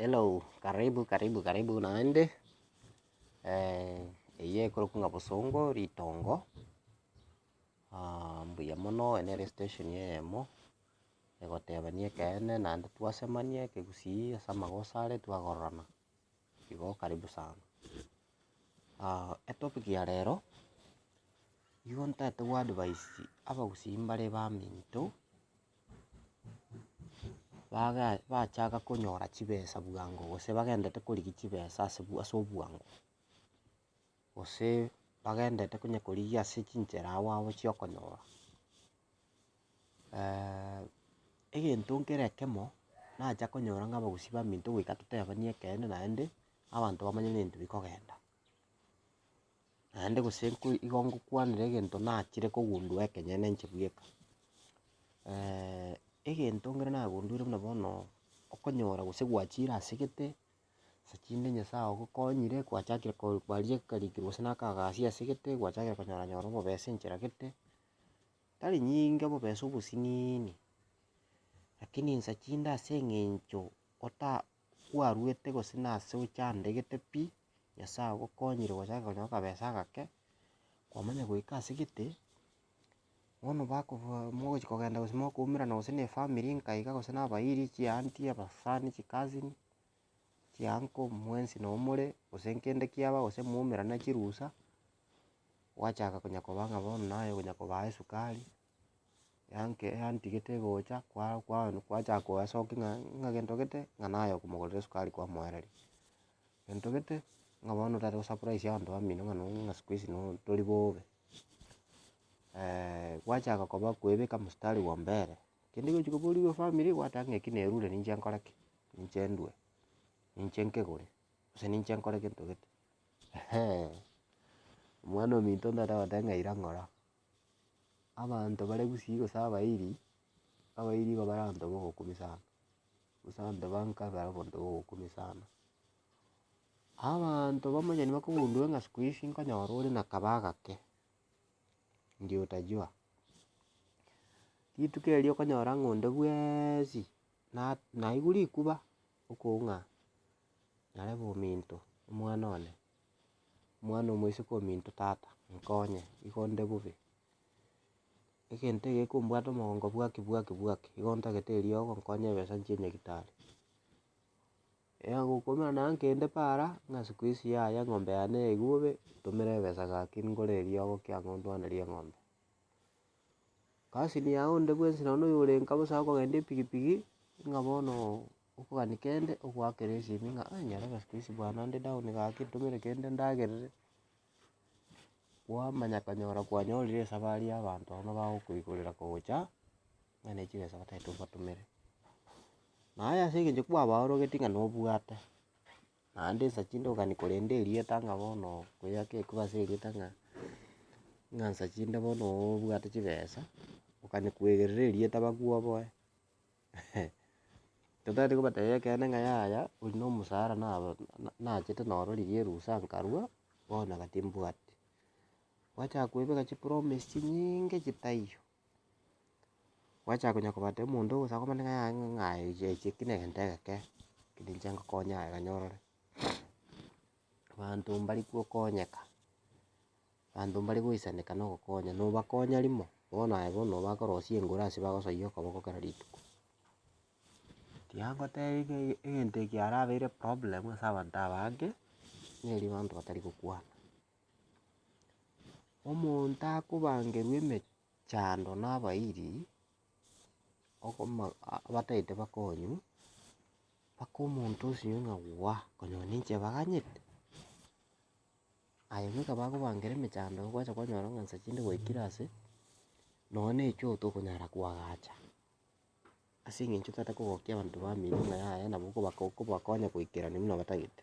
Hello, karibu karibu karibu naende, eye ekorokwa ng'a bosongo ritongo, mbuya mono, eye nere estation eyemo, egotebani ekeene naende twasemania ekegusii ase amagoso are twagororana, igo karibu sana. etopic ya rero, nigo ntagete goadvise abagusii mbare baminto. baga bachaka konyora chibesa bwango, gose bagendete korigia chibesa ase bwa ase obwango, gose bagendete onye korigia ase chinchera agwo agwo chiokonyora. egento nkere ekemo, nacha konyora ng'a abagusii baminto goika totebani ekeene naende, abanto bamanye nintwe bikogenda. naende gose igo ngokwanera egento nachire kogundua ekenyene inche bweka. egento ekero nagunduire buna bono, okonyora gose gwachire ase egete, ase chinde nyasae ogokonyire gwachakire ko kwaria akarikiro gose na akagasi ase egete, gwachakire konyora nyora obobesa enchera gete, tari nyinge obobesa obosiniini, lakini nsa chinde ase eng'encho ota kwaruete gose nase ochandegete pi. Nyasae agokonyire gochaka konya akabesa agake, kwamanya goika ase gete, bono bakobua mogochia kogenda gose mokoumerana gose na efamiri nka iga gose na abairi, chianti, abasani, chicousin, chianko, mwensi noo more, gose nkende kiaba gose mwaumerana chirusa, gwachaka konya koba ng'a bono naye konya kobaa esukari. yanke yantigete gocha kwa kwa kwachaka kogasoki ng'a ng'a gento gete ng'a naye okomogorera esukari kwamoereria, gento gete ng'a bono otagete gosurprise abanto bamino ng'a nonya ng'a siku hizi nonya tori bobe. gwachaka koba kwebeka mstari bwa mbere, kende gochi koboria efamiri gwateba ng'a eki nerure ninche nkore ki? Ninche ndue, ninche nkegore, gose ninche nkore gento gete omwana ominto ntagete goteeba ng'a ira ng'ora. Abanto bare gusii gose abairi, abairi nigo bare abanto ba obokong'u sana, gose abanto ba nka nigo bare abanto ba obokong'u sana. Abanto bamanyani bakogundere ng'a siku hizi nkonyora ore na kaba agake, ndio utajua. Rituko erio okonyora ng'a onde bweeesi na- naigwa rikuba, okong'a nyarebe ominto, omwana one. omwana omoiseke ominto tata nkonye igo nde bobe, egento egekombwate omogongo bwaki bwaki bwaki igo ntagete eriogo nkonye ebesa nchie nyagetari. Eya gokombora naye nkende paara, ng'a siku hizi yaya eng'ombe yane yaigwa bobe, ntomere ebesa gaki ngore eriogo ki ang'e ondwanerie eng'ombe. Kasini yaye onde bwensi nonye noyo ore nka bosa akogenda epigipigi, ng'a bono. Okogania kende ogoakera esimi ng'a aye nyarebe ase koisi bwane naende down gaki ntomere kende ndagerere, kwamanya kanyora kwanyorire esabari ya abanto abwo bagokoigorera kogocha ng'a ne chibesa bataete obatomere. Naye ase eng'encho kwabaorogeti ng'a nobwate, naende nsa chinde kogania korenda erieta ng'a bono kweyaka ekube ase erieta ng'a ng'a nsa chinde bono obwate chibesa, okani kwegerera erieta bakuoboe. Totagete kobatebia ekeene ng'a yaya oyio na omosara naro na- nachete noro riria erusa nkarua, bono iga timbwati. Gwachaka koebeka chipromise chinyinge chitaiyo, gwachaka konya kobatebia omonto ogosaba komanya ng'a yaya ng'a aye echi echi eki negento egeke, keri inche ngokonya aye ganya orore, abanto mbari gokonyeka. Abanto mbare goisaneka na ogokonya, nobakonya rimo, bono aye bono noba akorosia engoro ase bagosoyia okoboko kera rituko. Tiyangotebia ng'a ege egento eke kiarabeire problem ase abanto aba ake, nigo erio abanto batari gokwana. Omonto akobangerwa emechando na abairi, okoma ah abataete bakonywa, mpaka omonto osinye ng'a waa, konya ninche ebaganyete. Aye bweka bakobangera emechando gwacha kwanyora ng'a nsa chinde gwaikire ase, nonye na echoo tokonyara koagacha, ase eng'encho totaete kogokia abanto bamino ng'a yaya nabo okobako okobakonya goikerania buna batagete.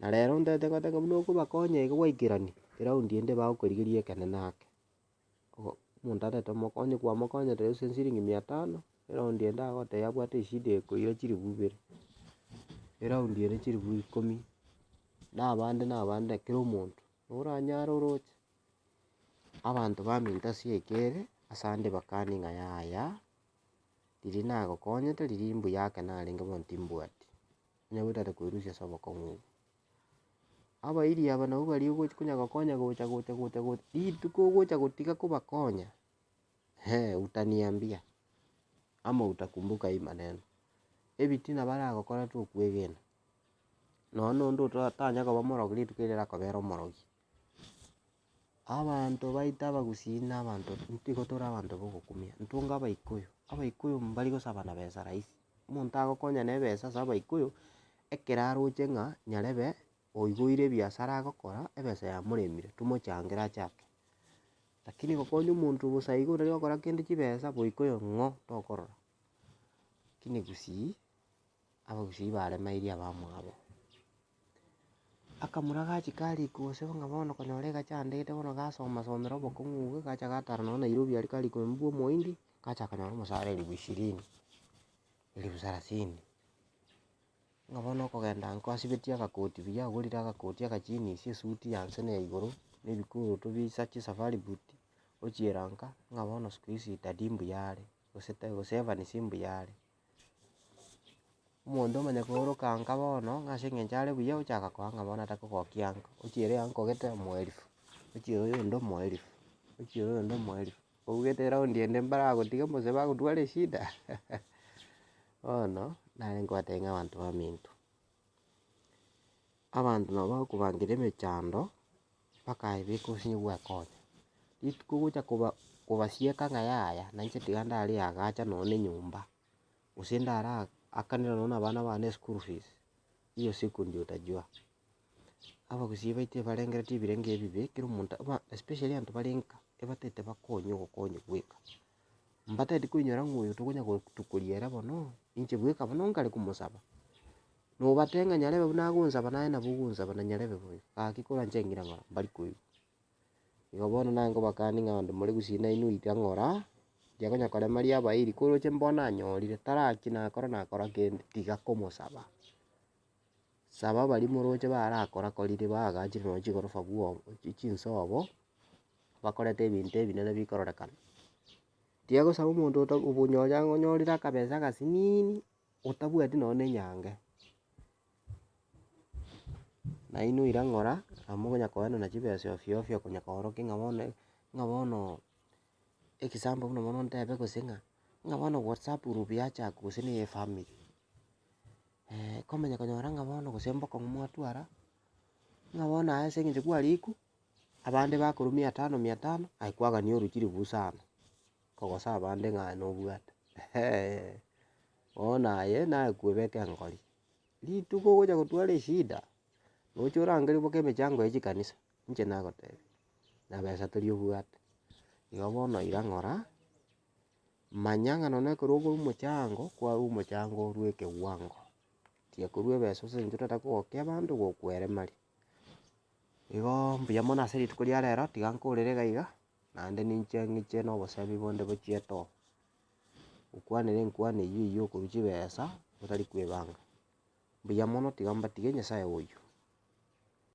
Na rero ntaete goeta ng'a buna okobakonya iga gwaikerani, eraundi ende bagokorigeria ekenene ake. oo omonto arete omokonye kwamokonyete gose siringi mia tano, eraundi ende agoteba abwate eshida eye ekoira chilifu ibere, eraundi ere chilifu ikomi, na abande na abande kera omonto oranyare oroche, abanto baminto ase eke ere ase ande bakanie ng'a yaya, riria nagokonyete riria mbuya ake narenge bono timbwati, onye goetare koerusia ase obokong'u obo. Abairi aba nabwo baria ogochi konya gokonya gocha gocha gocha gocha, rituko ogocha gotiga kobakonya, hee utaniambia ama utakumbuka hii maneno, ebitina baragokora tokwegena, nonya na onde ototanya koba omorogi rituko erio rakobera omorogi. Abanto baito abagusii na abanto nigo tore abanto bogokumia, ntonge abaikuyu, abaikuyu mbari gosaba na besa rahisi, omonto agokonya na ebesa ase abaikuyu, ekero aroche ng'a nyarebe oigoire ebiasara agokora, ebesa yamoremire, tomochangere achake. Lakini gokonya omonto bosa igo otari gokora kende chibesa, boikoyo ng'o tokorora, lakini gusii. abagusii baremeirie abamwabo. Akamura gachika arikwa gose ng'a bono okonyora egaki andegete bono gasoma somera obokong'u obwo, gacha gatara nonye Nairobi aria karikwa ime bwa omoindi, gacha kanyora omosara elifu ishirini, elifu sarasini. Ng'a bono okogenda inko asibetie agakoti buya, agorire agakoti agajinisi, esuti ya inse na ya igoro, na ebikurutu bie chisa chia safari boot, ochiera nka, ng'a bono siku hizi tadi mbuya are, gose ta gose Evans mbuya are. Omonto omanye kooroka anka bono, ng'a ase eng'encho are buya ochaka koa ng'a bono atakogokia anka, ochiere anko gete omoerifu, ochiere oyonde omoerifu, ochiere oyonde omoerifu, ougete eraundi ende mbaragotiga gose bagotware eshida, bono nare ngobatebia ng'a abanto baminto. abanto nabo bakobankire emechando, mpaka aye beka gose nigo bwekonya. Rituko gocha koba kobasieka ng'a yaya nainche tiga ndare agacha nonye na enyomba, gose ndara akanere nonye na abana bane eschool fees, hiyo siku ndio utajua. Abagusii baito ebarengeretie ebirenge ebibe, kera omonto especially abanto bare nka, ebatagete bakonye ogokonya bweka. Mbatagete koinyora ng'a oyo tokonya gotukoria ere bono, inche bweka bono nkare komosaba. Nobate ng'a nyarebe buna agonsaba naye nabo ogonsaba na nyarebe boigo, gaki korwa inche ng'ire ng'a mbari koigwa. Igo bono nare nkobakanie ng'a onde more gusii nainwe oito ang'ora, inche konya korema riaba iri, koroche mbono nanyorire, tara ki nakora nakora kende, tiga komosaba. Saba baria moroche barakorakorire baagachire nonya chigorofa bwoba, chi- chinsobo, bakorete ebinto ebinene bikororekana. Tiga gosaba omonto ota obonyori ang'e onyorire akabesa agasiniini, otabwati nonya na enyango. Nainwe oira ng'ora, nabo mokonya koenana chibesa ofio ofio okonya koorokia ng'a bono ng'a bono example buna bono ntebe gose ng'a, ng'a bono whatsapp group yachakwa gose neye efamiri. komanya konyora ng'a bono gose mbokong'u mwatwara, ng'a bono aye ase eng'encho kwariku, abande bakorwa mia tano mia tano, aye kwagani orochi ribusa ano, kogosa abande ng'a aye nobwate eeh. Bono aye naye kwebeka engori, rituko ogocha gotwara eshida, roche orangerie boka emechango ya chikanisa, inche nagotebi, na besa tori obwate. Igo bono iga ng'ora. Manya ng'a nonya ekero okorwa omochango, kwarwa omochango orwe ekegwango, tiga korwa ebesa ase eng'encho otagete kogokia abanto gokweremaria. Igoo mbuya mono ase rituko ria rero, tiga nkorere iga iga, naende ninche ng'iche na oboseemi bonde bwe chietoo, nkwanere enkwani eyio eyio okorwa chibesa otari kwebanga. Mbuya mono tiga mbatige Nyasaye oyio.